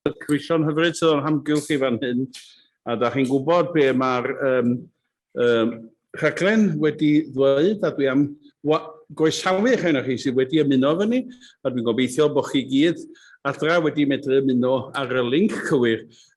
Croeso'n hyfryd sydd o'n hamgylch chi fan hyn, a da chi'n gwybod be mae'r um, um, rhaglen wedi ddweud, a dwi am goesawu eich enw chi sydd wedi ymuno efo ni, a dwi'n gobeithio bod chi gyd adra wedi medru ymuno ar y link cywir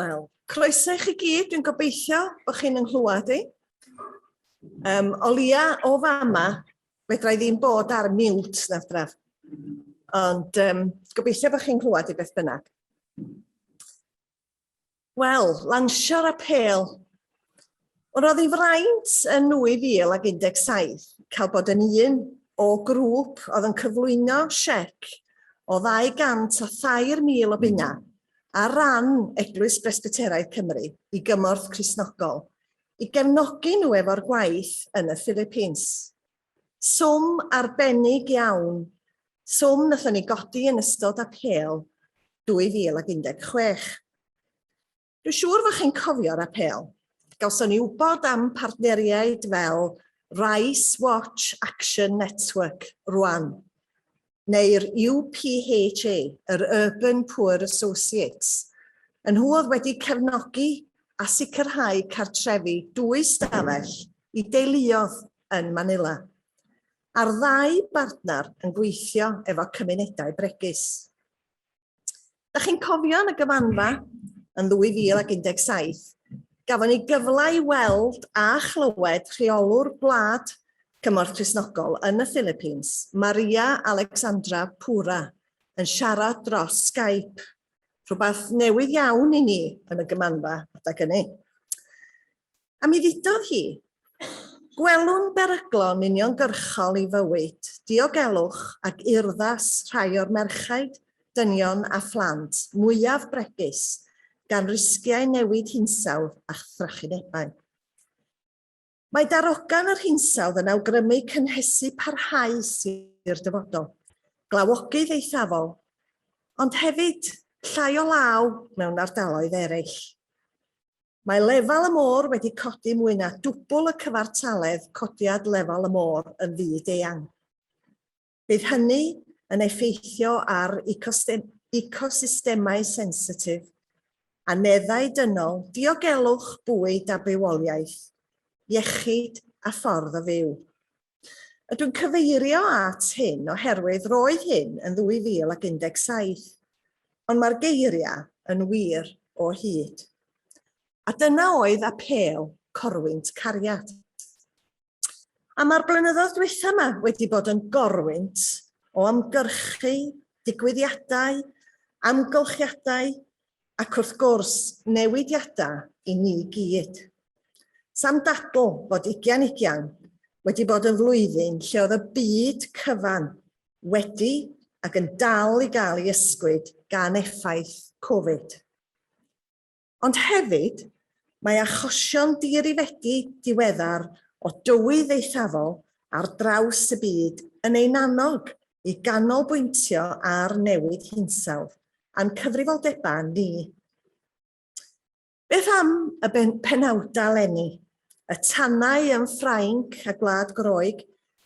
Wel, croeso i chi gyd, dwi'n gobeithio bod chi'n ynghlwad i. Um, o lia o fama, fedra i ddim bod ar miwt na draf. Ond um, gobeithio bod chi'n clywed i beth bynnag. Wel, lansio'r apêl. Ond roedd ei fraint yn 2017 cael bod yn un o grŵp oedd yn cyflwyno siec o ddau gant a thair mil o bunna ar ran Eglwys Bresbyteraidd Cymru i gymorth Cristnogol i gefnogi nhw efo'r gwaith yn y Philippines. Swm arbennig iawn, swm nathon ni godi yn ystod Apêl 2016. Dwi'n siŵr fod chi'n cofio'r Apêl. Gawson ni wybod am partneriaid fel Rice Watch Action Network rwan. neu'r UPHA, yr Urban Poor Associates. Y nhw oedd wedi cefnogi a sicrhau cartrefi dwy stafell i deuluodd yn Manila, a'r ddau bartner yn gweithio efo cymunedau bregus. Da chi'n cofio yn y gyfanfa yn 2017, gafon ni gyfle i weld a chlywed rheolwr gwlad Cymorth Cristnogol yn y Philippines, Maria Alexandra Pura, yn siarad dros Skype, rhywbeth newydd iawn i ni yn y gymanfa adag hynny. A mi ddudodd hi, Gwelwn beryglon uniongyrchol i fywyd, diogelwch ac urddas rhai o'r merchaid, dynion a phlant mwyaf bregus gan risgiau newid hinsawdd a thrachinebau. Mae darogan yr hinsawdd yn awgrymu cynhesu parhaus i'r dyfodol, glawogydd eithafol, ond hefyd llai o law mewn ardaloedd eraill. Mae lefel y môr wedi codi mwy na dwbl y cyfartaledd codiad lefel y môr yn fyd-eang. Bydd hynny yn effeithio ar ecosystemau sensitif, aneddau dynol, diogelwch bwyd a bywoliaeth, iechyd a ffordd o fyw. A dwi'n cyfeirio at hyn oherwydd roedd hyn yn 2017, ond mae'r geiriau yn wir o hyd. A dyna oedd apêl corwynt cariad. A mae'r blynyddoedd dwytha yma wedi bod yn gorwynt o ymgyrchu, digwyddiadau, amgylchiadau, Ac wrth gwrs, newidiadau i ni gyd. Sam dadl fod ugian ugian wedi bod yn flwyddyn lle oedd y byd cyfan wedi ac yn dal i gael ei ysgwyd gan effaith Covid. Ond hefyd, mae achosion diarifedi diweddar o dywydd eithafol ar draws y byd yn ein annog i ganolbwyntio ar newid hinsawdd a'n cyfrifoldebau ni. Beth am y penawdau eleni? Y tanau yn Ffrainc a Gwlad Groeg,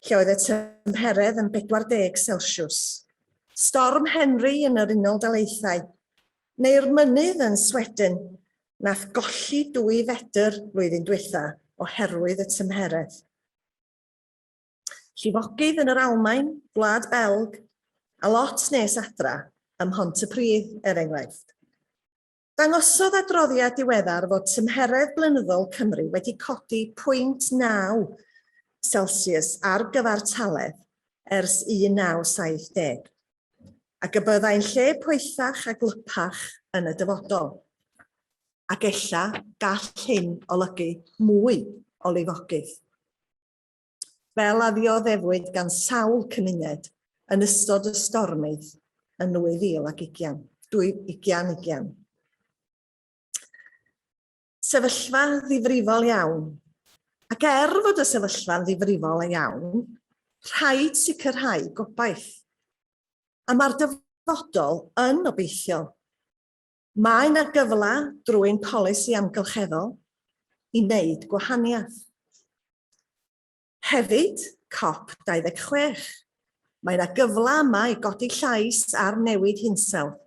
lle oedd y tymheredd yn 40 Celsiws. Storm Henry yn yr Unol Daleithau, neu'r mynydd yn Sweden, nath golli dwy fedr flwyddyn diwetha oherwydd y tymheredd. Llifogydd yn yr Almaen, Gwlad Belg, a lot nes adra, ym Mhontypridd, er enghraifft. Dangosodd adroddiad diweddar fod tymheredd blynyddol Cymru wedi codi 0.9 Celsius ar gyfartaledd ers 1970, ac y byddai'n lle poethach a gwlypach yn y dyfodol. Ac ella gall hyn olygu mwy o lifogydd. fel a ddioddefwyd gan sawl cymuned yn ystod y stormydd yn 2020. 2020. Sefyllfa ddifrifol iawn. Ac er fod y sefyllfa'n ddifrifol iawn, rhaid sicrhau gobaith. A mae'r dyfodol yn obeithiol. Mae yna gyfle drwy'n polisi amgylcheddol i wneud gwahaniaeth. Hefyd, Cop 26, mae yna gyfle yma i godi llais ar newid hinsawdd.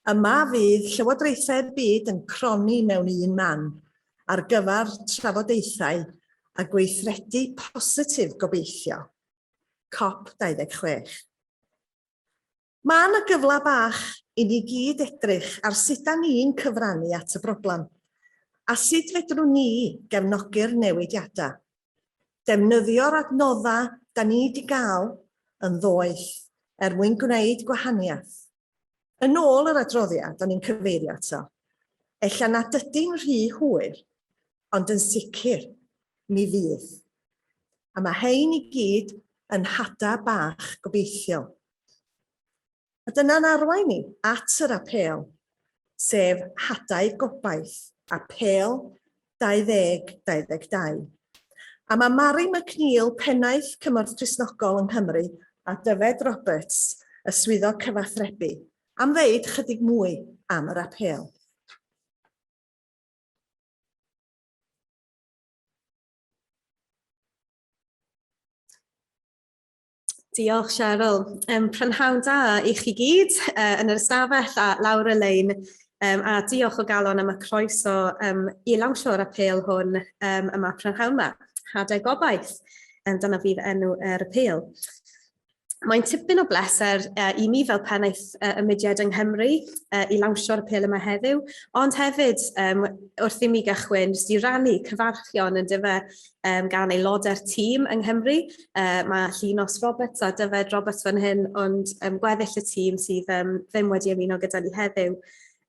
Yma fydd llywodraethau'r byd yn cronni mewn un man ar gyfer trafodaethau a gweithredu positif gobeithio. Cop 26. Mae yna gyfle bach i ni gyd edrych ar sut da ni'n cyfrannu at y broblem, a sut fedrwn ni gefnogi'r newidiadau. Defnyddio'r adnoddau da ni 'di gael yn ddoeth er mwyn gwneud gwahaniaeth. Yn ôl yr adroddiad o'n i'n cyfeirio ato, ella nad ydi'n rhy hwyr, ond yn sicr, mi fydd. A mae hein i gyd yn hada' bach gobeithiol. A dyna'n arwain ni at yr apêl, sef Hadau Gobaith, Apêl 2022. A mae Mari McNeil, Pennaeth Cymorth Cristnogol yng Nghymru, a Dyfed Roberts, y Swyddog Cyfathrebu, am ddeud chydig mwy am yr apêl. Diolch Cheryl. Um, prynhawn da i chi gyd uh, yn yr ystafell a lawr y lein. Um, a diolch o galon am y croeso um, i lawnsio'r apel hwn um, yma prynhawn yma. Hadau gobaith, um, dyna fydd enw yr er apel. Mae'n tipyn o bleser uh, i mi fel pennaeth uh, y mudiad yng Nghymru uh, i lawnsio'r apel yma heddiw, ond hefyd um, wrth i mi gychwyn, jyst i rannu cyfarchion yn dyfa um, gan aelodau'r tîm yng Nghymru. Uh, mae Llinos Roberts a Dyfed Roberts fan hyn, ond um, gweddill y tîm sydd um, ddim wedi ymuno gyda ni heddiw.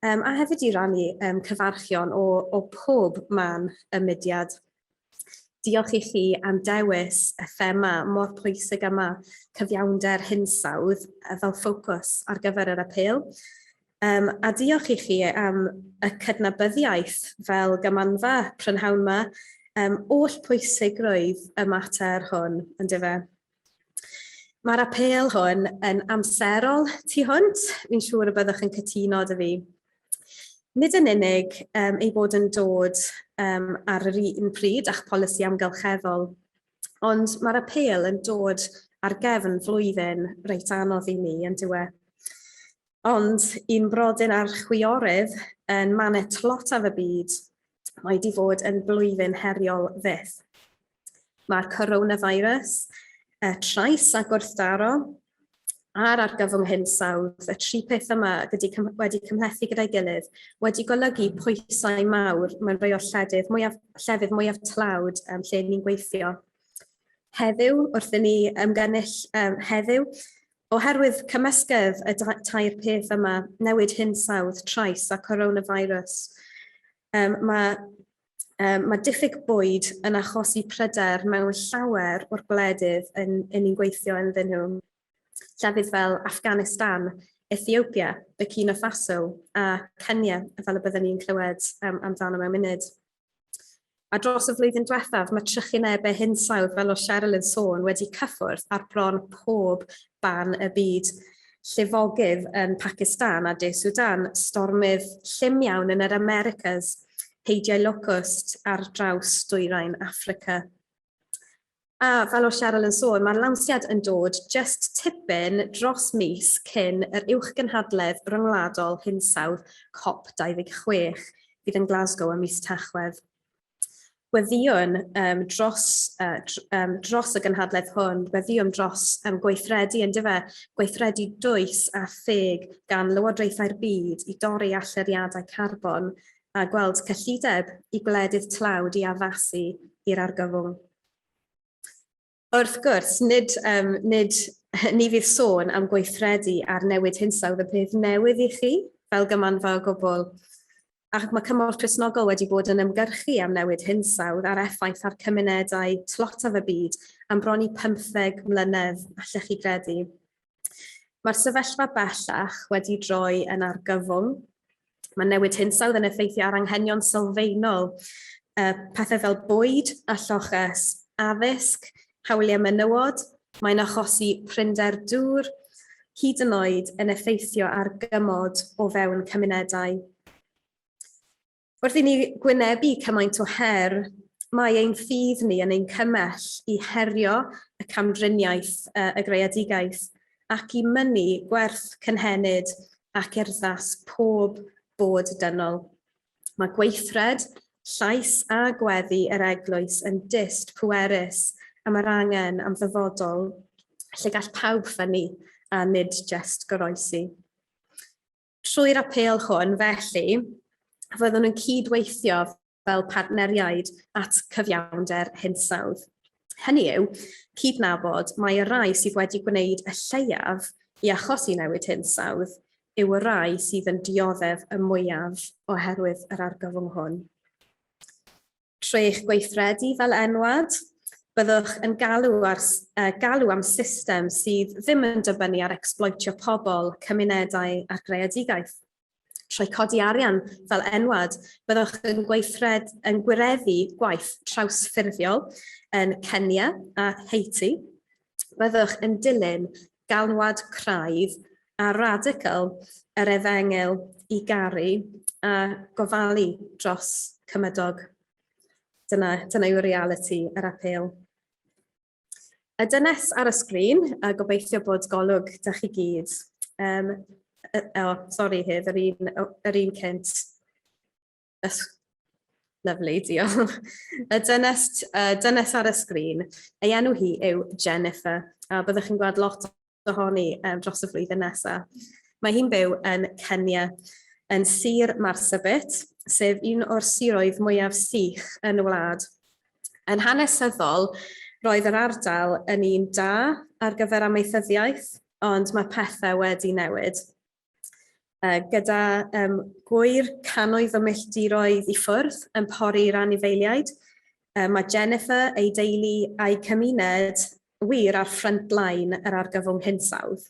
Um, a hefyd i rannu um, cyfarchion o, o pob man y mudiad. Diolch i chi am dewis y thema mor pwysig yma, cyfiawnder hinsawdd fel ffocws ar gyfer yr apel. Yym, a diolch i chi am y cydnabyddiaeth fel gamamfa prynhawn 'ma am oll pwysigrwydd y mater hwn, yndyfe. Mae'r apêl hwn yn amserol tu hwnt, fi'n siŵr y byddwch yn cytuno 'da fi. Nid yn unig yym ei bod yn dod yym ar yr un pryd â'ch polisi amgylcheddol, ond mae'r apêl yn dod ar gefn flwyddyn reit anodd i ni, yndyw e? Ond i'n brodyn a'r chwiorydd yn mane tlotaf y byd, mae 'di fod yn blwyddyn heriol fyth. Mae'r coronavirus, y trais a gwrthdaro, a'r argyfwng hinsawdd, y tri peth yma wedi cymhlethu gyda'i gilydd, wedi golygu pwysau mawr mewn rhai o'r lledydd mwyaf, llefydd mwyaf tlawd um, lle ni'n gweithio. Heddiw, wrth i ni ymgynnull um, heddiw, Oherwydd cymysgedd y tair peth yma, newid hinsawdd, trais a coronavirus, mae Yym mae diffyg bwyd yn achosi pryder mewn llawer o'r gwledydd yn yn ni'n gweithio ynddyn nhw. Llefydd fel Afghanistan, Ethiopia, Burkina Faso a Kenya, fel y byddwn ni'n clywed um, amdano mewn munud. A dros y flwyddyn diwethaf, mae trychinebau hinsawdd, fel oedd Cheryl yn sôn, wedi cyffwrdd ar bron pob ban y byd. Llifogydd yn Pacistan a De Sudan, stormydd llym iawn yn yr Americas, heidiau locust ar draws dwyrain Affrica. A fel oedd Cheryl yn sôn, mae'r lansiad yn dod jyst tipyn dros mis cyn yr uwchgynhadledd ryngwladol hinsawdd Cop 26 fydd yn Glasgow ym mis Tachwedd. Gweddïwn um, dros, uh, dr, um, dros y gynhadledd hwn, gweddïwn dros um, gweithredu yn dyfa, gweithredu dwys a theg gan lywodraethau'r byd i dorri allyriadau carbon a gweld cyllideb i gwledydd tlawd i addasu i'r argyfwng. Wrth gwrs, nid, um, nid ni fydd sôn am gweithredu ar newid hinsawdd y peth newydd i chi, fel gymanfa o gwbl. Ac mae Cymorth Cresnogol wedi bod yn ymgyrchu am newid hinsawdd a'r effaith ar cymunedau tlotaf y byd am bron i 15 mlynedd, allech chi gredu. Mae'r sefyllfa bellach wedi droi yn argyfwng. Mae newid hinsawdd yn effeithio ar anghenion sylfaenol, uh, pethau fel bwyd a lloches, addysg, hawliau menywod, mae'n achosi prinder dŵr, hyd yn oed yn effeithio ar gymod o fewn cymunedau. Wrth i ni gwynebu cymaint o her, mae ein ffydd ni yn ein cymell i herio y camdriniaeth y greadigaeth ac i mynnu gwerth cynhenid ac urddas pob bod dynol. Mae gweithred, llais a gweddi yr Eglwys yn dyst pwerus am yr angen am ddyfodol lle gall pawb ffynnu a nid jest goroesi. Trwy'r apêl hwn, felly, fyddwn yn cydweithio fel partneriaid at cyfiawnder hinsawdd. Hynny yw, cydnabod mai y rhai sydd wedi gwneud y lleiaf i achosi newid hinsawdd yw y rhai sydd yn dioddef y mwyaf oherwydd yr argyfwng hwn. Trwy'ch gweithredu fel enwad, byddwch yn galw ar galw am system sydd ddim yn dibynnu ar ecsbloetio pobl, cymunedau a'r greadigaeth. Trwy codi arian fel enwad, byddwch yn gweithred yn gwireddu gwaith trawsffurfiol yn Kenya a Haiti, byddwch yn dilyn galwad craidd a radical yr efengyl i garu a gofalu dros cymydog. Dyna, dyna yw reality yr apel. Y dynes ar y sgrin, a gobeithio bod golwg da chi gyd. Um, o, oh, sori hyd, yr un, yr un cynt. Ysg. Lyfli, diolch. Y dynes, uh, dynes ar y sgrin, ei enw hi yw Jennifer, a byddwch chi'n gweld lot ohoni um, dros y flwyddyn nesaf. Mae hi'n byw yn Kenya, yn Sir Marsabit, sef un o'r siroedd mwyaf sych yn y wlad. Yn hanesyddol, roedd yr ardal yn un da ar gyfer amaethyddiaeth, ond mae pethau wedi newid. gyda um, gwyr canoedd o milltiroedd i ffwrdd yn pori'r anifeiliaid. Um, mae Jennifer, ei deulu a'i cymuned wir ar ffrant blaen yr argyfwng hinsawdd.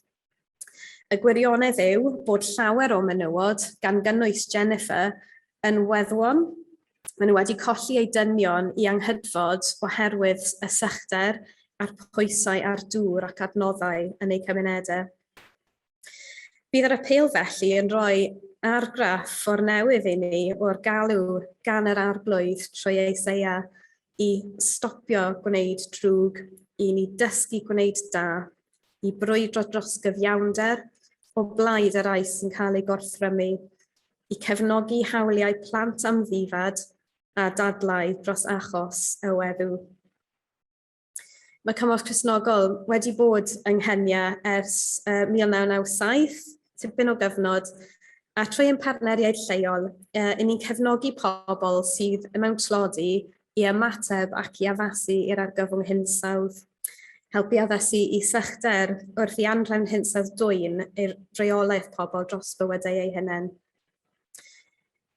Y gwirionedd yw bod llawer o menywod, gan gynnwys Jennifer, yn weddwon. Maen nhw wedi colli eu dynion i anghydfod oherwydd y sychder a'r pwysau a'r dŵr ac adnoddau yn eu cymunedau. Bydd yr apêl felly yn rhoi argraff o'r newydd i ni o'r galw gan yr Arglwydd trwy Eiseia i stopio gwneud drwg, i ni dysgu gwneud da, i brwydro dros gyfiawnder o blaid y rai sy'n cael eu gorthrymu, i cefnogi hawliau plant amddifad a dadlau dros achos y weddw. Mae Cymorth Cristnogol wedi bod yng Nghenia ers uh, 1997, tipyn o gyfnod, a trwy ein partneriaid lleol, uh, yn ni'n cefnogi pobl sydd mewn tlodi i ymateb ac i addasu i'r argyfwng hinsawdd. Helpu addasu i sychder wrth i anrefn hinsawdd dwyn i'r reolaeth pobl dros bywydau eu hunain.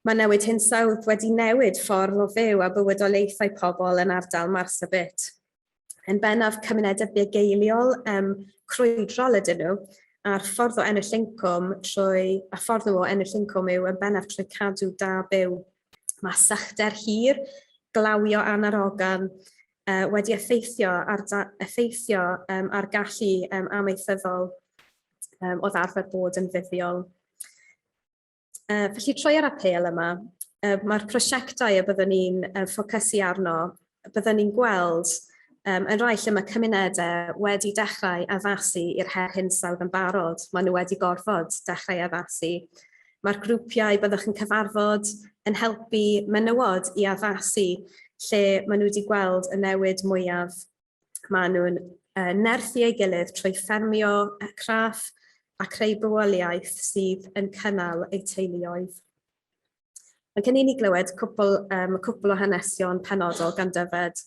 Mae newid hinsawdd wedi newid ffordd o fyw a bywydoliaethau pobl yn ardal Marsabit. Yn bennaf cymunedau bugeiliol um, crwydrol ydyn nhw, a'r ffordd o ennill incwm trwy, a ffordd nhw o ennill incwm yw yn bennaf trwy cadw da byw. Mae sychder hir, glawio anarogan, uh, wedi effeithio ar, effeithio, um, ar gallu um, amaethyddol um, o ddarfer bod yn fuddiol. Uh, felly troi ar apel yma, uh, mae'r prosiectau y byddwn ni'n uh, ffocysu arno, byddwn ni'n gweld um, yn rhai lle mae cymunedau wedi dechrau addasu i'r her hinsawdd yn barod. Maen nhw wedi gorfod dechrau addasu. Mae'r grwpiau byddwch yn cyfarfod yn helpu menywod i addasu lle maen nhw wedi gweld y newid mwyaf Maen nhw'n uh, nerthu ei gilydd trwy ffermio craff a creu bywoliaeth sydd yn cynnal eu teuluoedd. Mae gen i ni glywed cwpl, um, cwpl o hanesion penodol gan Dyfed.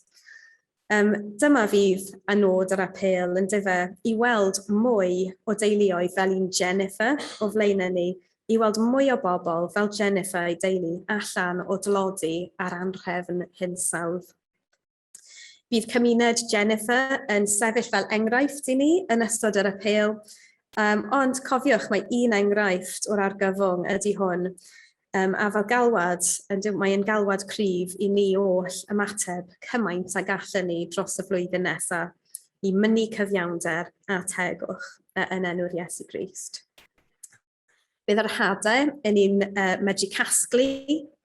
Um, dyma fydd a nod yr apel yn dyfa i weld mwy o deuluoedd fel un Jennifer o flaenau ni, i weld mwy o bobl fel Jennifer ei deulu allan o dlodi ar anrhefn hinsawdd. Bydd cymuned Jennifer yn sefyll fel enghraifft i ni yn ystod yr apêl, um, ond cofiwch mae un enghraifft o'r argyfwng ydy hwn, um, a fel galwad, mae'n galwad cryf i ni oll ymateb cymaint a gallwn ni dros y flwyddyn nesaf i mynnu cyfiawnder a tegwch yn enw'r Iesu Grist. Bydd yr hadau yn un uh, medru casglu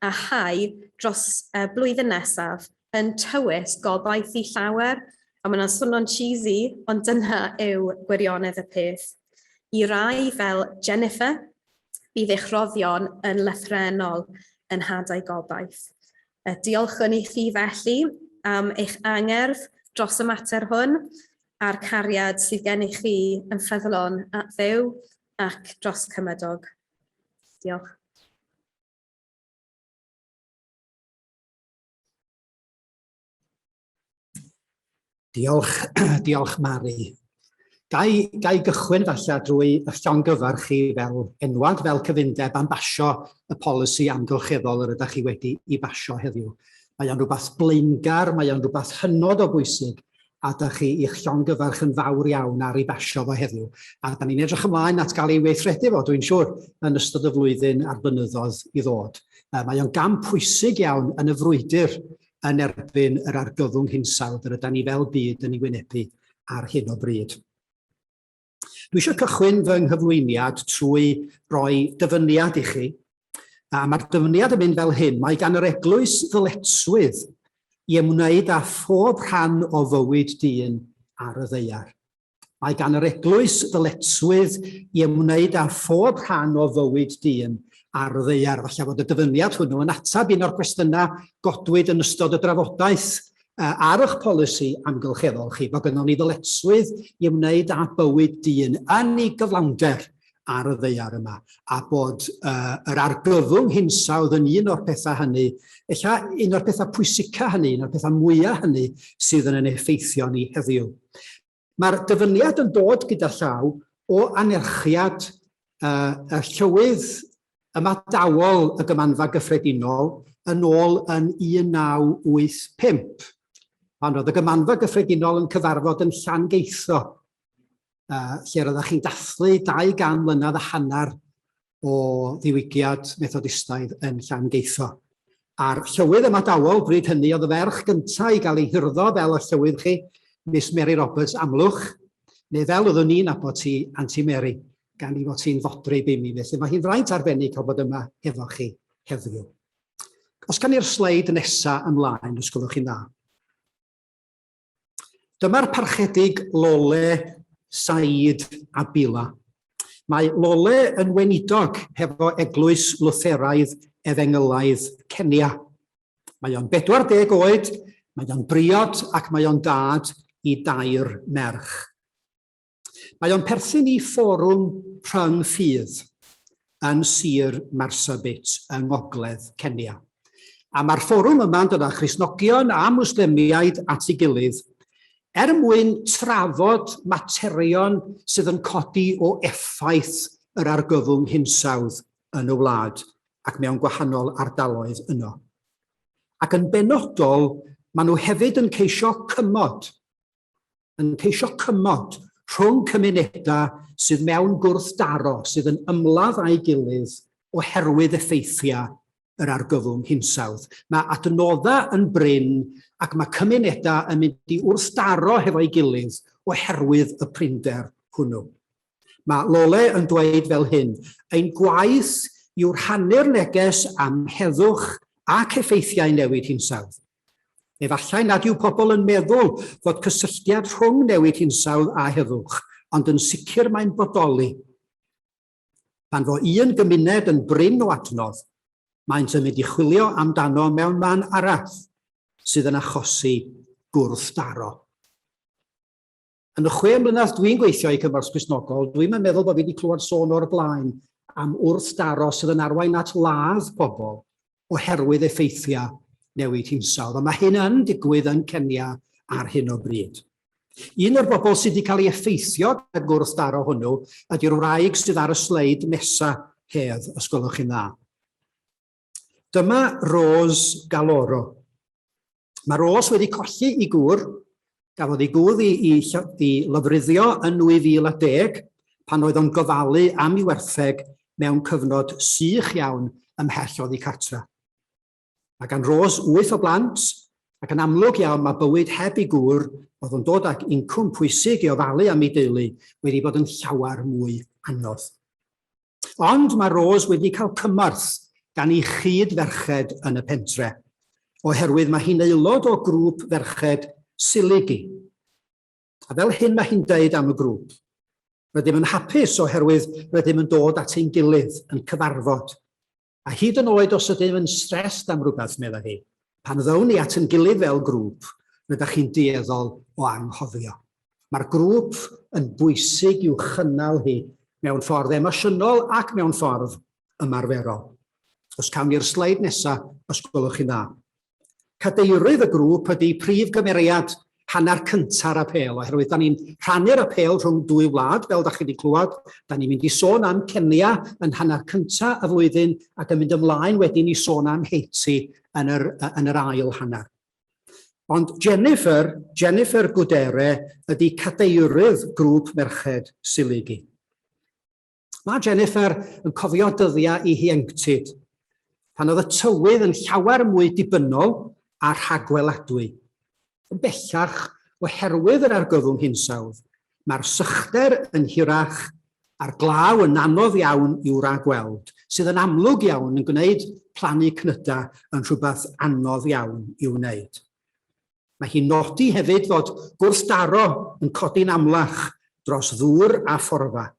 a hau dros uh, blwyddyn nesaf yn tywys gobaith i llawer, a mae'n swnio'n cheesy, ond dyna yw gwirionedd y peth. I rai fel Jennifer, bydd eich roddion yn lethrenol yn hadau gobaith. Diolchwn i chi felly am eich angerdd dros y mater hwn a'r cariad sydd gen i chi yn ffyddlon at ddew Ac dros Cymydog. Diolch. Diolch, diolch Mari. Gai, gai gychwyn falle drwy y llongyfarch chi fel enwad, fel cyfundeb am basio y polisi amgylcheddol yr ydych chi wedi i basio heddiw. Mae o'n rhywbeth blaengar, mae o'n rhywbeth hynod o bwysig, a dach chi i'ch llongyfarch yn fawr iawn ar ei basio fo heddiw, a da ni'n edrych ymlaen at gael ei weithredu fo, dwi'n siŵr, yn ystod y flwyddyn a'r blynyddoedd i ddod. Mae o'n gam pwysig iawn yn y frwydr yn erbyn yr argyfwng hinsawdd yr ydan ni fel byd yn ei wynebu ar hyn o bryd. Dwi eisiau cychwyn fy nghyflwyniad trwy roi dyfyniad i chi. A mae'r dyfyniad yn mynd fel hyn. Mae gan yr eglwys ddyletswydd i ymwneud â phob rhan o fywyd dyn ar y ddeiar. Mae gan yr eglwys ddyletswydd i ymwneud â phob rhan o fywyd dyn ar y ddeiar. Falle fod y dyfyniad hwnnw yn atab un o'r cwestiynau godwyd yn ystod y drafodaeth Ar eich polisi amgylcheddol chi, mae gynnon ni ddyletswydd i ymwneud â bywyd dyn yn ei gyflawnder ar y ddaear yma, a bod uh, yr argyfwng hinsawdd yn un o'r pethau hynny, ella un o'r pethau pwysica hynny, un o'r pethau mwyaf hynny sydd yn yn effeithio ni heddiw. Mae'r dyfyniad yn dod gyda llaw o anerchiad y Llywydd Ymadawol y Gymanfa Gyffredinol yn ôl yn 1985, pan oedd y Gymanfa Gyffredinol yn cyfarfod yn Llangeitho, lle roeddech chi'n dathlu 200 mlynedd a hanner o ddiwygiad Methodistaidd yn Llangeitho. A'r llywydd ymadawol bryd hynny oedd y ferch gyntaf i gael ei hurddo fel y llywydd chi, Miss Mary Roberts Amlwch, neu fel oeddwn ni'n nabod ti, Anti Mary, gan i fod ti'n fodryb i mi, felly mae hi'n fraint arbennig cael bod yma efo chi heddiw. Os gan i'r sleid nesaf ymlaen, os gwelwch chi'n dda. Dyma'r Parchedig Lole Said Abila. Mae Lole yn weinidog hefo Eglwys Lutheraidd Efengylaidd Kenya. Mae o'n 40 oed, mae o'n briod ac mae o'n dad i dair merch. Mae o'n perthyn i fforwm rhyng ffydd yn Sir Marsabit yng ngogledd Kenya. A mae'r fforwm yma'n dod â Christnogion a Mwslemiaid at ei gilydd er mwyn trafod materion sydd yn codi o effaith yr argyfwng hinsawdd yn y wlad ac mewn gwahanol ardaloedd yno. Ac yn benodol, maen nhw hefyd yn ceisio cymod yn ceisio cymod rhwng cymunedau sydd mewn gwrthdaro sydd yn ymladd â'i gilydd oherwydd effeithiau yr argyfwng hinsawdd. Mae adnoddau yn brin ac mae cymunedau yn mynd i wrthdaro hefo'i gilydd oherwydd y prinder hwnnw. Mae Lole yn dweud fel hyn, Ein gwaith yw rhannu'r neges am heddwch ac effeithiau newid hinsawdd. Efallai nad yw pobl yn meddwl fod cysylltiad rhwng newid hinsawdd a heddwch, ond yn sicr mae'n bodoli. Pan fo un gymuned yn brin o adnodd, maent yn mynd i chwilio amdano mewn man arall, sydd yn achosi gwrthdaro. Yn y chwe mlynedd dwi'n gweithio i Gymorth Gristnogol, dwi'm yn meddwl bod fi wedi clywed sôn o'r blaen am wrthdaro sydd yn arwain at ladd pobl oherwydd effeithiau newid hinsawdd, a mae hyn yn digwydd yn Kenya ar hyn o bryd. Un o'r bobl sydd wedi cael ei effeithio gan gwrthdaro hwnnw ydy'r wraig sydd ar y sleid nesa, Hedd, os gwelwch chi'n dda. Dyma Rose Galoro. Mae Rose wedi colli i gŵr, gafodd ei gŵr i, i, i lofruddio yn 2010 pan oedd o'n gofalu am ei wertheg mewn cyfnod sych iawn ymhell oddi cartra. Mae gan Rose wyth o blant ac yn amlwg iawn mae bywyd heb ei gŵr oedd o'n dod ag incwm pwysig i ofalu am ei deulu wedi bod yn llawer mwy anodd. Ond mae Rose wedi cael cymorth gan ei chyd-ferched yn y pentre, oherwydd mae hi'n aelod o grŵp ferched Siligi. A fel hyn mae hi'n dweud am y grŵp, Rydym yn hapus oherwydd rydym yn dod at ein gilydd, yn cyfarfod. A hyd yn oed os ydym yn stressed am rywbeth, meddai hi, pan ddown ni at ein gilydd fel grŵp, rydych chi'n dueddol o anghofio. Mae'r grŵp yn bwysig i'w chynnal hi mewn ffordd emosiynol ac mewn ffordd ymarferol. Os cawn ni'r sleid nesaf, os gwelwch chi'n dda. Cadeirydd y grŵp ydy prif gymeriad hanner cynta'r apêl, oherwydd da ni'n rhannu'r apêl rhwng dwy wlad, fel da chi wedi clywed. Da ni'n mynd i sôn am Kenya yn hanner cynta y flwyddyn ac yn mynd ymlaen wedyn i sôn am Haiti yn yr, yn yr ail hanner. Ond Jennifer, Jennifer Gudere, ydy cadeirydd grŵp merched Siligi. Mae Jennifer yn cofio dyddiau i hienctid, pan oedd y tywydd yn llawer mwy dibynnol a rhagweladwy. Yn bellach, oherwydd yr argyfwng hinsawdd, mae'r sychder yn hirach a'r glaw yn anodd iawn i'w ragweld, sydd yn amlwg iawn yn gwneud plannu cnydau yn rhywbeth anodd iawn i'w wneud. Mae hi'n nodi hefyd fod gwrthdaro yn codi'n amlach dros ddŵr a phorfa.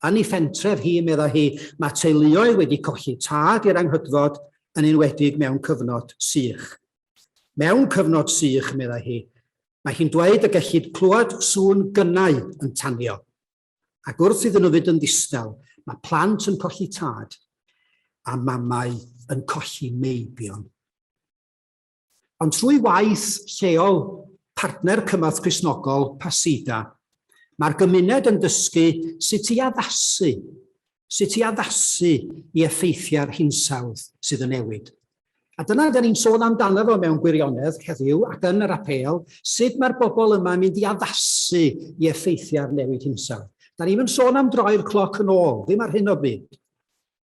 Yn ei phentref hi, meddai hi, mae teuluoedd wedi colli tad i'r anghydfod, yn enwedig mewn cyfnod sych. Mewn cyfnod sych, meddai hi, mae hi'n dweud y gellid clywed sŵn gynnau yn tanio. Ac wrth iddyn nhw fynd yn ddistaw, mae plant yn colli tad a mamau yn colli meibion. Ond trwy waith lleol partner Cymorth Cristnogol Pasida, mae'r gymuned yn dysgu sut i addasu, sut i addasu i effeithiau'r hinsawdd sydd yn newid. A dyna dyn ni'n sôn amdano fo mewn gwirionedd heddiw ac yn yr apêl, sut mae'r bobl yma yn mynd i addasu i effeithiau'r newid hinsawdd. Da ni'n yn sôn am droi'r cloc yn ôl, ddim ar hyn o bryd.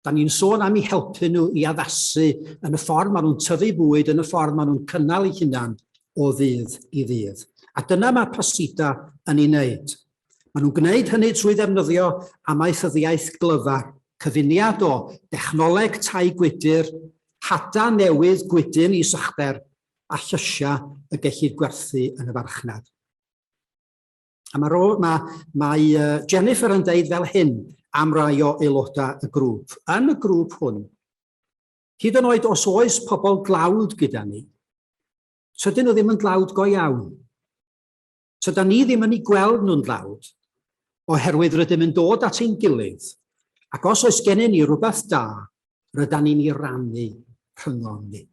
Da ni'n sôn am i helpu nhw i addasu yn y ffordd maen nhw'n tyfu bwyd, yn y ffordd maen nhw'n cynnal eu hunan o ddydd i ddydd. A dyna mae Pasida yn ei wneud. Maen nhw'n gwneud hynny trwy ddefnyddio amaethyddiaeth glyfar, cyfuniad o dechnoleg tai gwydr, hada newydd gwydyn is uchder a llysiau y gellid gwerthu yn y farchnad. A mae, ro, mae, mae uh, Jennifer yn deud fel hyn am rai o aelodau y grŵp. Yn y grŵp hwn, hyd yn oed os oes pobl dlawd gyda ni, tydyn nhw ddim yn dlawd go iawn. Tyda ni ddim yn ei gweld nhw'n dlawd, oherwydd rydym yn dod at ein gilydd, ac os oes gennym ni rhywbeth da rydan ni'n ei rannu rhyngom ni.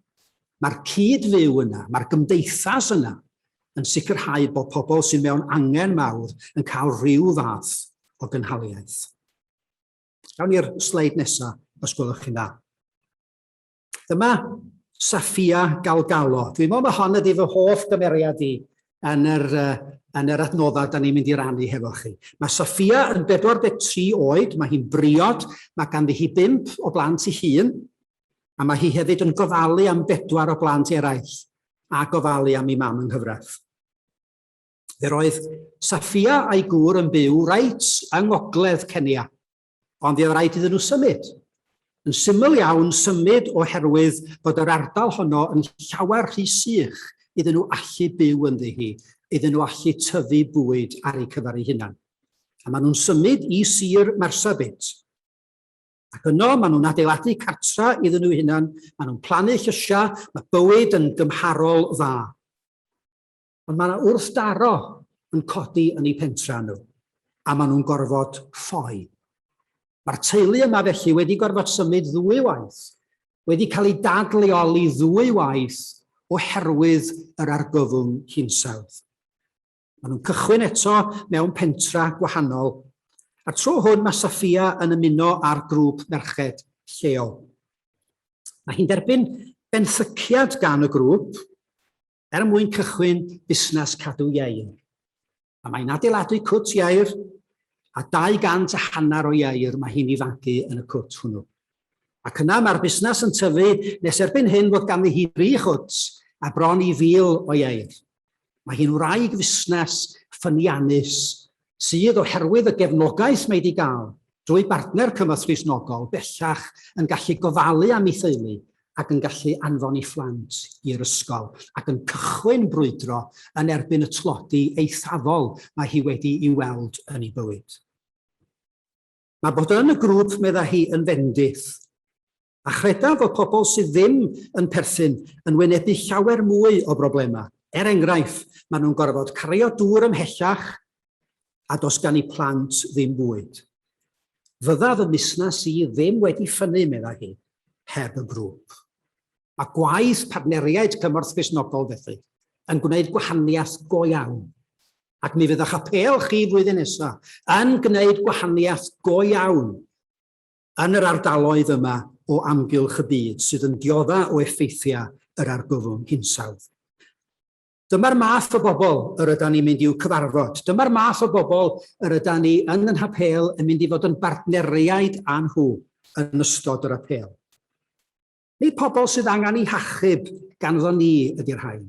Mae'r cyd-fyw yna, mae'r gymdeithas yna, yn sicrhau bod pobl sydd mewn angen mawr yn cael rhyw fath o gynhaliaeth. Gawn ni'r sleid nesaf, os gwelwch chi'n dda. Dyma Safia Galgalo. Dwi'n meddwl mae hon ydy fy hoff gymeriad i yn yr, uh, yn yr adnoddau da ni'n mynd i rannu hefo chi. Mae Sophia yn 43 oed, mae hi'n briod, mae ganddi hi bimp o blant i hun, a mae hi hefyd yn gofalu am bedwar o blant eraill a gofalu am ei mam yng nghyfraith. Fe roedd Safia a'i gŵr yn byw reit yng ngogledd Cenia, Ond fe oedd rhaid iddyn nhw symud. Yn syml iawn, symud oherwydd bod yr ardal honno yn llawer rhy sych iddyn nhw allu byw ynddi hi, iddyn nhw allu tyfu bwyd ar eu cyfer eu hunan. A maen nhw'n symud i sir Marsabit. Ac yno, maen nhw'n adeiladu cartra iddyn nhw hunan, maen nhw'n plannu llysiau, mae bywyd yn gymharol dda. Ond mae yna wrthdaro yn codi yn eu pentrau nhw, a maen nhw'n gorfod ffoi. Mae'r teulu yma felly wedi gorfod symud ddwy waith, wedi cael ei dadleoli ddwy waith oherwydd yr argyfwng hinsawdd. Maen nhw'n cychwyn eto mewn pentra gwahanol, a'r tro hwn mae Safia yn ymuno â'r grŵp merched lleol. Mae hi'n derbyn benthyciad gan y grŵp, er mwyn cychwyn busnes cadw ieir. A mae'n adeiladu cwt ieir a 200 a hanner o ieir mae hi'n ifancu yn y cwt hwnnw. Ac yna mae'r busnes yn tyfu nes erbyn hyn fod ganddi hi dri chwt a bron i fil o ieir. Mae hi'n wraig fusnes ffyniannus sydd, oherwydd y gefnogaeth mae wedi gael drwy bartner cymorth Gristnogol, bellach yn gallu gofalu am ei theulu ac yn gallu anfon ei phlant i'r ysgol, ac yn cychwyn brwydro yn erbyn y tlodi eithafol mae hi wedi'i weld yn ei bywyd. Mae bod yn y grŵp, meddai hi, yn fendith. a chredaf fod pobl sydd ddim yn perthyn yn wynebu llawer mwy o broblemau. Er enghraifft, maen nhw'n gorfod cario dŵr ymhellach a does gan eu plant ddim bwyd. Fydda fy musnes i ddim wedi ffynnu, meddai hi, heb y grŵp. Mae gwaith partneriaid Cymorth Cristnogol felly yn gwneud gwahaniaeth go iawn, ac mi fydd eich apêl chi flwyddyn nesaf yn gwneud gwahaniaeth go iawn yn yr ardaloedd yma o amgylch y byd sydd yn diodda o effeithiau yr argyfwng hinsawdd. Dyma'r math o bobl yr yda ni'n mynd i'w cyfarfod. Dyma'r math o bobl yr yda ni yn yn hapel yn mynd i fod yn bartneriaid â nhw yn ystod yr apel. Nid pobl sydd angen ei hachub ganddo ni ydy'r rhain,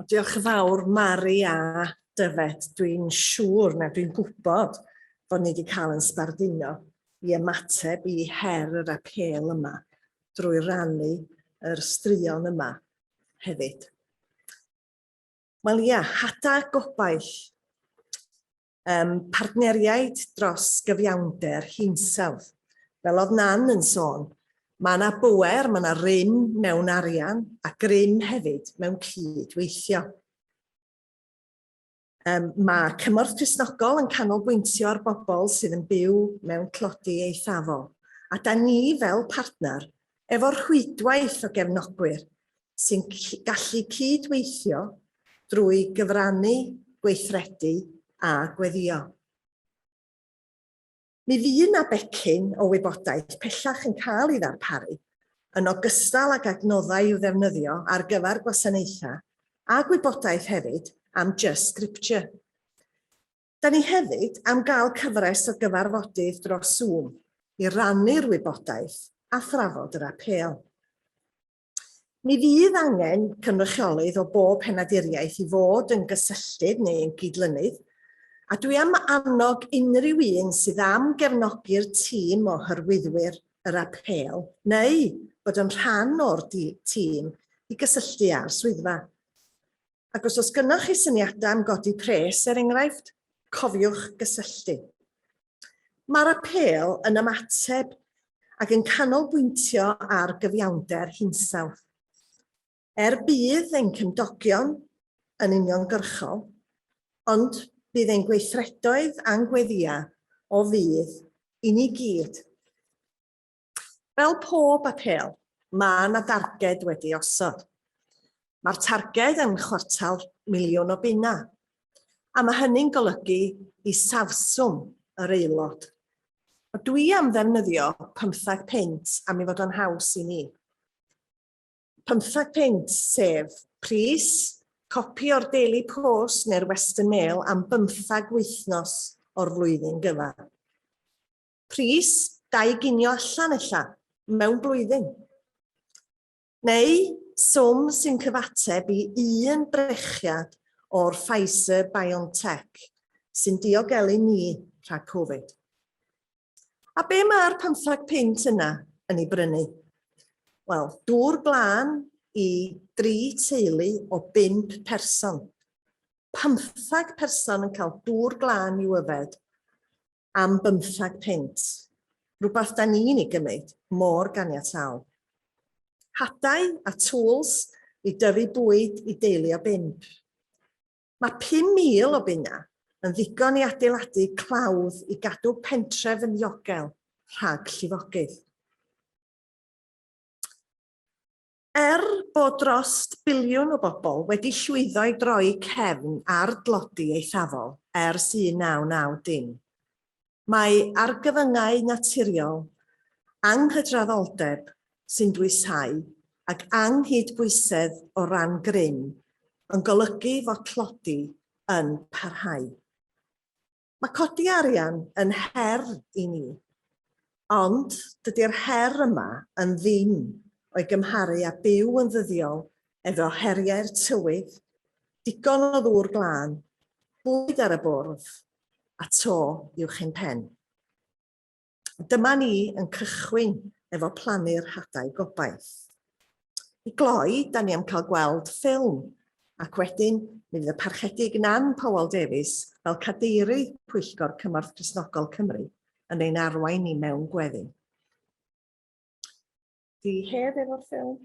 O, diolch yn fawr, Mari a Dyfed. Dwi'n siŵr, na dwi'n gwybod, bod ni wedi cael yn sbarduno i ymateb i her yr apêl yma drwy rannu yr straeon yma hefyd. Wel ia, hada gobaith. Ym partneriaid dros gyfiawnder hinsawdd. Fel oedd Nan yn sôn, mae yna bŵer, mae yna rym mewn arian a grym hefyd mewn cyd-weithio. Ym mae Cymorth Cristnogol yn canolbwyntio ar bobl sydd yn byw mewn tlodi eithafol a da ni fel partner Efo rhwydwaith o gefnogwyr sy'n gallu cyd-weithio drwy gyfrannu, gweithredu a gweddio. Mi fu 'na becyn o wybodaeth pellach yn cael ei ddarparu, yn ogystal ag adnoddau i'w ddefnyddio ar gyfer gwasanaethau, a gwybodaeth hefyd am Just Scripture. Da ni hefyd am gael cyfres o gyfarfodydd dros Zoom i rannu'r wybodaeth a thrafod yr apêl. Mi fydd angen cynrychiolydd o bob penaduriaeth i fod yn gysylltydd neu yn gydlynydd, a dwi am annog unrhyw un sydd am gefnogi'r tîm o hyrwyddwyr yr apêl neu fod yn rhan o'r tîm i gysylltu â'r swyddfa. Ac os oes gennych chi syniadau am godi pres, er enghraifft, cofiwch gysylltu. Mae'r apêl yn ymateb ac yn canolbwyntio ar gyfiawnder hinsawdd. Er bydd ein cymdogion yn uniongyrchol, ond bydd ein gweithredoedd a'n gweddiau o fudd i ni gyd. Fel pob apêl, mae yna darged wedi ei osod. Mae'r targed yn chwartal miliwn o bunnau, a mae hynny'n golygu isafswm yr aelod. Ond dwi am ddefnyddio pymtheg punt am ei fod o'n haws i ni. Pymtheg punt, sef pris copi o'r Daily Post neu'r Western Mail am bymtheg wythnos o'r flwyddyn gyfan. Pris, dau ginio allan ella, mewn blwyddyn. Neu swm sy'n cyfateb i un brechiad o'r Pfizer-BioNTech sy'n diogelu ni rhag Covid. A be mae'r pymthag punt yna yn ei brynu? Wel, dŵr glân i dri teulu o bump person. Pymthag person yn cael dŵr glân i'w yfed. am bymthag punt, rhywbeth da ni'n ei gymryd mor ganiataol. Hadau a tools i dyfu bwyd i deulu o bump. Mae 5,000 o bunnau yn ddigon i adeiladu clawdd i gadw pentref yn ddiogel rhag llifogydd. Er bod dros biliwn o bobl wedi llwyddo i droi cefn ar dlodi eithafol ers 1990, mae argyfyngau naturiol, anghydraddoldeb sy'n dwysáu ac anghydbwysedd o ran grym yn golygu fod tlodi yn parhau. Mae codi arian yn her i ni, ond dydy'r her yma yn ddim o'i gymharu â byw yn ddyddiol efo heriau'r tywydd, digon o ddŵr glân, bwyd ar y bwrdd, a to uwch ein pen. Dyma ni yn cychwyn efo plannu'r hadau gobaith. I gloi, da ni am cael gweld ffilm, ac wedyn mi fydd y parchedig Nan Powell Davies fel cadeirydd Pwyllgor Cymorth Cresnogol Cymru yn ein arwain ni mewn gweddi. Di hef efo'r ffilm.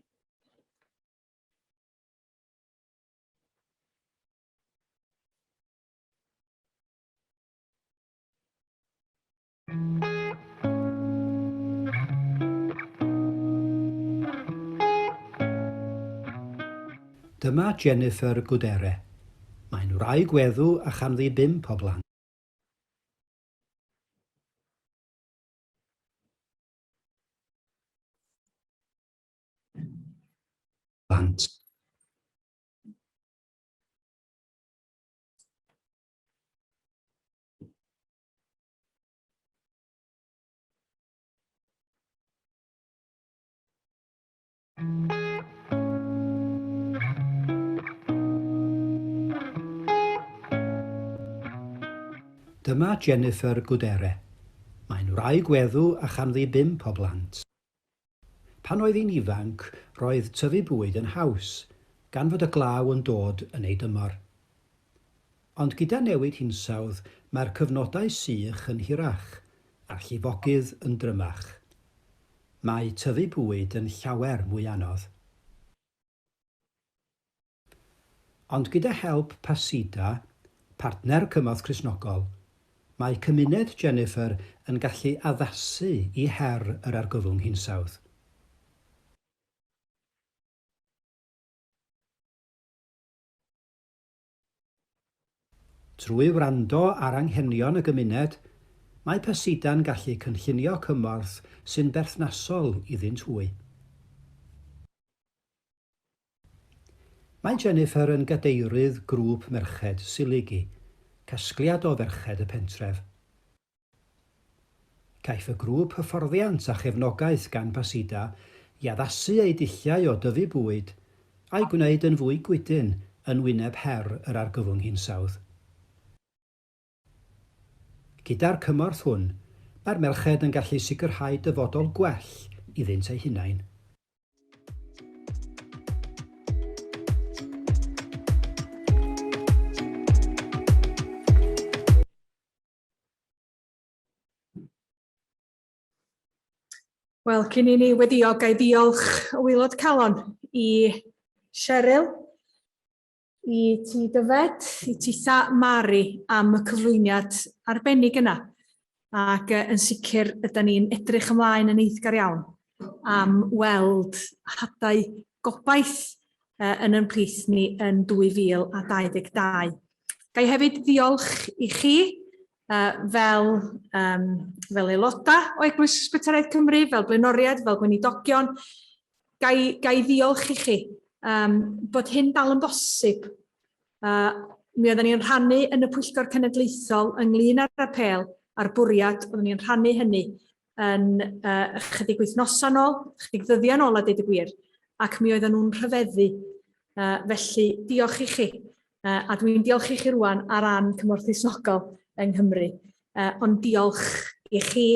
Dyma Jennifer Gudere. Mae'n wraig weddw a chanddi bump o blant. Blant. Dyma Jennifer Gudere. Mae'n wraig weddw a chanddi bump o blant. Pan oedd hi'n ifanc, roedd tyfu bwyd yn haws, gan fod y glaw yn dod yn ei dymor. Ond gyda newid hinsawdd, mae'r cyfnodau sych yn hirach, a'r llifogydd yn drymach. Mae tyfu bwyd yn llawer mwy anodd. Ond gyda help Pasida, partner cymorth Cristnogol, mae cymuned Jennifer yn gallu addasu i her yr argyfwng hinsawdd. Trwy wrando ar anghenion y gymuned, mae Pasida'n gallu cynllunio cymorth sy'n berthnasol iddynt hwy. Mae Jennifer yn gadeirydd grŵp merched Siligi, casgliad o ferched y pentref. Caiff y grŵp hyfforddiant a chefnogaeth gan Basida i addasu eu dulliau o dyfu bwyd a'i gwneud yn fwy gwydyn yn wyneb her yr argyfwng hinsawdd. Gyda'r cymorth hwn, mae'r merched yn gallu sicrhau dyfodol gwell iddynt eu hunain. Wel, cyn i ni weddio, ga i ddiolch o waelod calon i Cheryl I ti Dyfed, i ti Sa Mari am y cyflwyniad arbennig yna. Ac yn sicr, ydy ni'n edrych ymlaen yn eiddgar iawn am weld hadau gobaith yn yn plith ni yn 2022. Ga i hefyd ddiolch i chi uh, fel, um, fel aelodau o Eglwys Ysbytaraeth Cymru, fel blaenoriaid, fel gweinidogion, gai, gai ddiolch i chi um, bod hyn dal yn bosib. Uh, mi oedden ni'n rhannu yn y Pwyllgor Cenedlaethol ynglyn â'r apel a'r bwriad oedden ni'n rhannu hynny yn uh, ychydig wythnosau nôl, ychydig ddyddiau nôl a dweud y gwir, ac mi oedden nhw'n rhyfeddu. Uh, felly, diolch i chi. Uh, a dwi'n diolch i chi rwan ar ran cymorth isnogol yng Nghymru. Uh, ond diolch i chi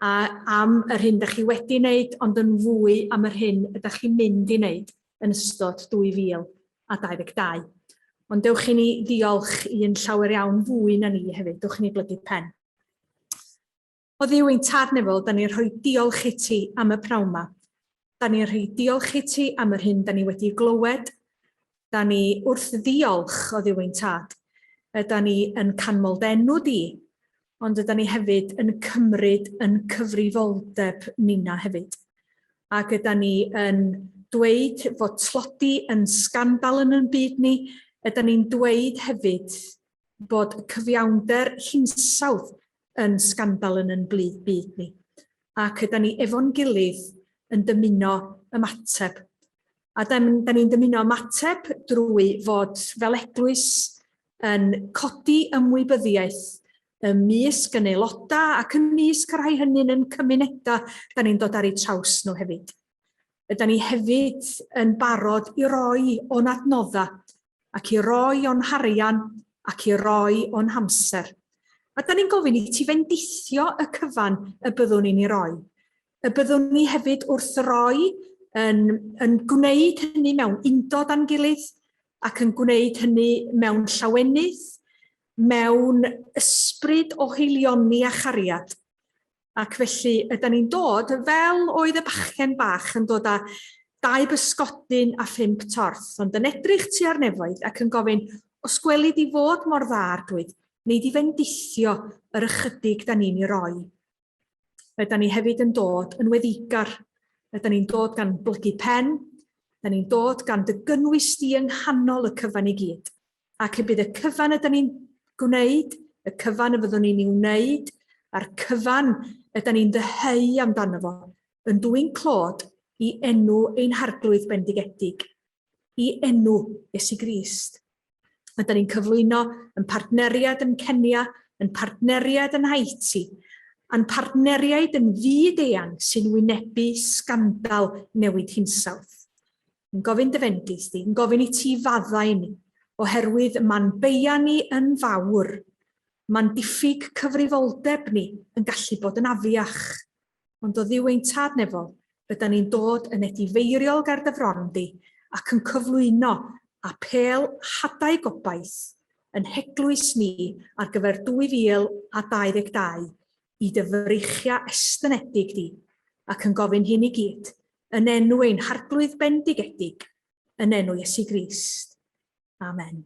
a, am yr hyn da chi wedi wneud, ond yn fwy am yr hyn ydych chi'n mynd i wneud yn ystod 2022. Ond dewch i ni ddiolch i'n llawer iawn fwy na ni hefyd, dewch i ni blygu pen. Oddiw ein Tarnefol, da ni'n rhoi diolch i ti am y pnawn ma. Da ni'n rhoi diolch i ti am yr hyn da ni wedi glywed. Da ni wrth ddiolch, oddiw ein Tad. Yda ni yn canmol denw di, ond yda ni hefyd yn cymryd yn cyfrifoldeb nina hefyd. Ac yda ni yn dweud fod tlodi yn sgandal yn yn byd ni, yda ni'n dweud hefyd bod cyfiawnder hinsawdd yn sgandal yn yn blith byd ni. Ac yda ni efo'n gilydd yn dymuno ymateb. A da ni'n dymuno ymateb drwy fod fel eglwys yn codi ymwybyddiaeth ym mysg yn aelodau ac ym mysg y rhai hynny'n yn cymunedau da ni'n dod ar eu traws nhw hefyd. Ydy ni hefyd yn barod i roi o'n adnoddau ac i roi o'n harian ac i roi o'n hamser. A da ni'n gofyn i ti fendithio y cyfan y byddwn ni'n ei roi. Y byddwn ni hefyd wrth roi yn, yn gwneud hynny mewn undod a'n gilydd ac yn gwneud hynny mewn llawenydd, mewn ysbryd o heilioni a chariad. Ac felly, yda ni'n dod, fel oedd y bachgen bach yn dod â dau bysgodyn a phump torth, ond yn edrych tua'r nefoedd ac yn gofyn, os gweli di fod mor dda, Arglwydd, wnei di fendithio yr ychydig da ni'n ei roi. Yda ni hefyd yn dod yn weddigar, yda ni'n dod gan blygu pen, yda ni'n dod gan dy gynnwys di yng nghanol y cyfan i gyd. Ac y bydd y cyfan ydyn ni'n gwneud, y cyfan y fyddwn ni'n ei wneud, a'r cyfan ydyn ni'n ddyheu amdano fo, yn dwyn clod i enw ein harglwydd bendigedig, i enw Iesu Grist. Ydyn ni'n cyflwyno yn partneriad yn Kenya, yn partneriad yn Haiti, a'n partneriaid yn fyd eang sy'n wynebu sgandal newid hinsawdd. yn gofyn dy fendith di, yn gofyn i ti faddau ni, oherwydd mae'n beia ni yn fawr, mae'n diffyg cyfrifoldeb ni yn gallu bod yn afiach. Ond o Dduw ein Tad Nefol, rydan ni'n dod yn edifeiriol ger dy fron di, ac yn cyflwyno apêl hadau gobaith yn heglwys ni ar gyfer 2022 i dy freichiau estynedig di, ac yn gofyn hyn i gyd Yn enw ein Harglwydd bendigedig, yn enw Iesu Grist. Amen.